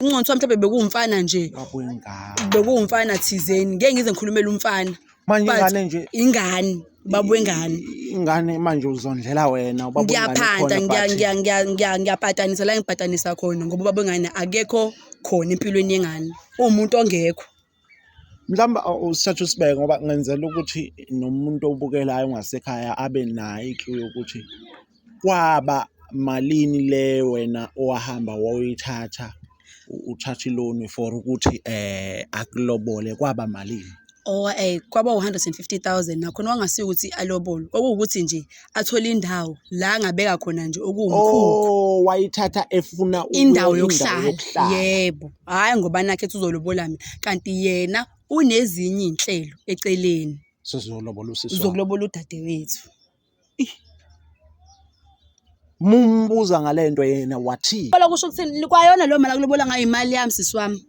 uncono kuthiwa mhlawumbe bekuwumfana nje Babuyingane. bekuwumfana thizeni ngeke ngize ngikhulumele umfana Manje But ingane nje- ingane ubaba wengane ingane manje uzondlela wena ubaba wengane ngiyaphanda khona, ngiya- but- ngiya- ngiya- ngiya- ngiyapatanisa la ngibhatanisa khona ngoba ubaba wengane akekho khona empilweni yengane uwumuntu ongekho Mhlawumbe usithathe usibeke ngoba ngenzela ukuthi nomuntu obukelayo ongasekhaya abe nayo i-clue yokuthi kwaba malini le wena owahamba woyithatha uthatha iloni for ukuthi eh akulobole kwaba malini. Or eh kwaba u-150,000 nakhona wangasiyo ukuthi alobole. Okuwukuthi nje athole indawo la angabeka khona nje okuwumkhukhu oh wayithatha efuna ukuyo- indawo yokuhlala yebo hhayi ngoba nakhe ethi uzolobola mina kanti yena unezinye iy'nhlelo eceleni sizolobola usisi wakho. uzokulobola udadewethu mumbuza ngale nto yena wathini Lobola kusho ukuthini kwayona leyo mali akulobola ngayo imali yami sisi wami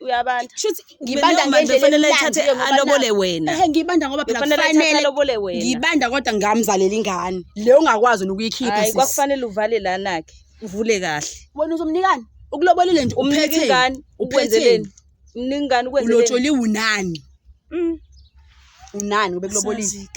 uyabanda shuthi ngibanda ngendlela kufanele ithathe alobole wena ehe ngibanda ngoba phela kufanele alobole wena ngibanda kodwa ngamzalela ingane leyo ungakwazi ukuyikhipha sisi kwakufanele uvale lana ke uvule kahle wena uzomnikani ukulobolile nje umpheke ingane ukwenzeleni mningani ukwenzeleni ulotsholi unani mm. unani ubekulobolile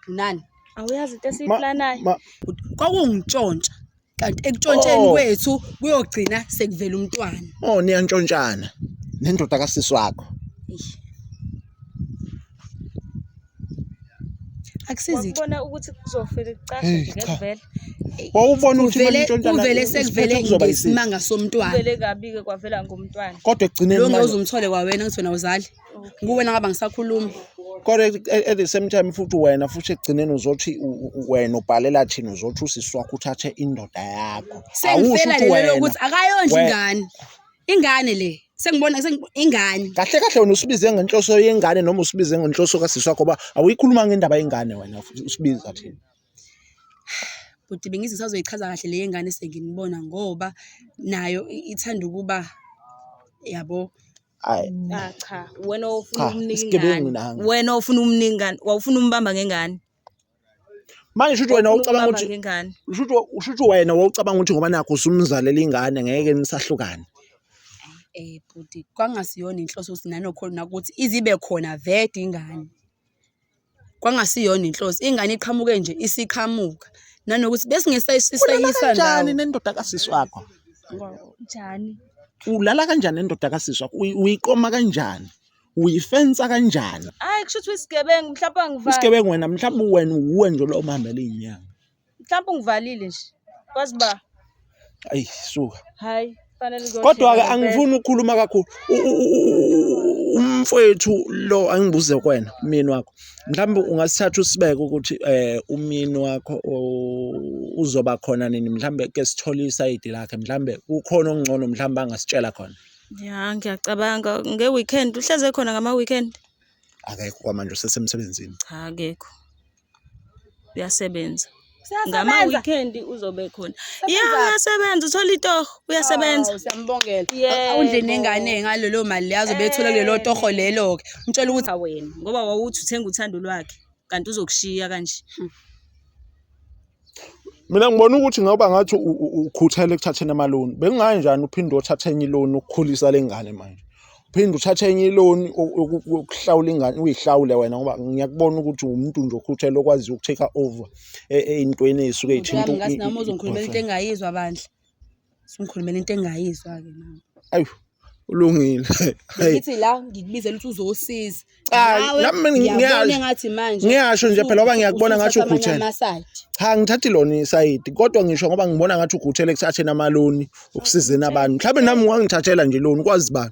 unani awuyazi into esiyiplanayo kwakungitshontsha kanti ekuntshontsheni Oh. kwethu kuyogcina sekuvela umntwana Oh niyantshontshana nendoda kasisi wakho. Eish. akusizi ke wakubona ukuthi kuzofele kucace Hey, nje cha. ngekuvela Wawubona ukuthi kuvele bantshontshana. kuvele isiphetho sekuvele kuzoba yisiphi. ngesimanga somntwana kuvele kabi-ke kwavela ngomntwana Kodwa ekugcineni Lo manje- ngeke uze umthole kwawena ukuthi wena awuzali kuwe nangaba ngisakhulumi kodwa at the same time futhi wena futhi ekugcineni uzothi wena ubhalela thina uzothi usisi wakho uthathe indoda yakho awusho ukuthi wena ukuthi akayondli ingane ingane le sengibona ingane kahle kahle wena usibize ngenhloso yengane noma usibize ngenhloso kasisi wakho ba awuyikhuluma ngendaba yengane wena usibiza thina bhuti bengithi ngisazoyichaza kahle le yengane senginibona ngoba nayo ithanda ukuba yabo Hayi. Ah cha, wena ofuna Cha, umnika isigebengu ingane. nami. Wena ofuna umnika ingane, wawufuna umbamba ngengane. Manje shuthi wena Wawufuna ucabanga umbamba ukuthi ngengane. shuthi shuthi wena wawucabanga ukuthi ngoba nakho usumzalela ingane ngeke nisahlukane. Eh bhuti, kwangasiyona inhloso ukuthi nanokhona ukuthi izibe khona vede ingane. Kwangasiyona inhloso. Ingane iqhamuke nje isiqhamuka. Nanokuthi besingesayisisayisa Kanjani ndawo. nendoda kasisi wakho? Njani? Ulala kanjani nendoda kasisi wakho? Uyi- Uyiqoma kanjani? Uyifensa kanjani? Hayi kusho ukuthi uyisigebengu mhlawumbe angivali. Isigebengu wena mhlawumbe wena uwe nje lo omhambela inyanga. mhlawumbe ungivalile nje kwazi uba ayi suka hayi kodwa-ke angifuni ukukhuluma kakhulu umfowethu lo angibuze kwena umyeni wakho mhlawumbe ungasithatha usibeke ukuthi um umyeni wakho uzoba khona nini mhlawumbe ke sithole isayidi lakhe mhlawumbe kukhona okungcono mhlawumbe angasitshela khona ya ngiyacabanga nge-weekend uhleze khona ngama-weekend akekho kwamanje usesemsebenzini cha akekho uyasebenza ngama-weekend uzobe khona ya uyasebenza uthola itoho uyasebenza oh, siyambongela awundle nengane ngalelo mali le azobe ethola kulelo eh. toho lelo-ke umtshela ukuthi wena ngoba wawuthi uthenga uthando lwakhe kanti uzokushiya kanje hmm. mina ngibona ukuthi ngoba ngathi ukhuthele ekuthatheni amaloni bengingayi njani uphinde othathe enye iloni ukukhulisa le ngane manje uphinde uthathe enye iloni ukuhlawula ingane uyihlawule wena ngoba ngiyakubona ukuthi umuntu nje okhuthele okwaziyo ukutake over e, e, ey'ntweni ey'suke y'thinta nami uzongikhulumela into engayizwa bandla Sungikhulumela into engayizwa-ke mama. Ayu, ulungile. Hey, Ngithi la ngikubizela ukuthi uzosiza. Cha, Nawe nami mina ngiyabona ngiyasho. engathi manje Ngiyasho nje phela ngoba ngiyakubona ngathi usuthatha amanye ukhuthele. ama-side. cha ngithathi lona isayidi kodwa ngisho ngoba ngibona ngathi ukhuthele ekuthatheni amaloni ukusizeni abantu mhlawumbe nami wangithathela nje loni kwazi bani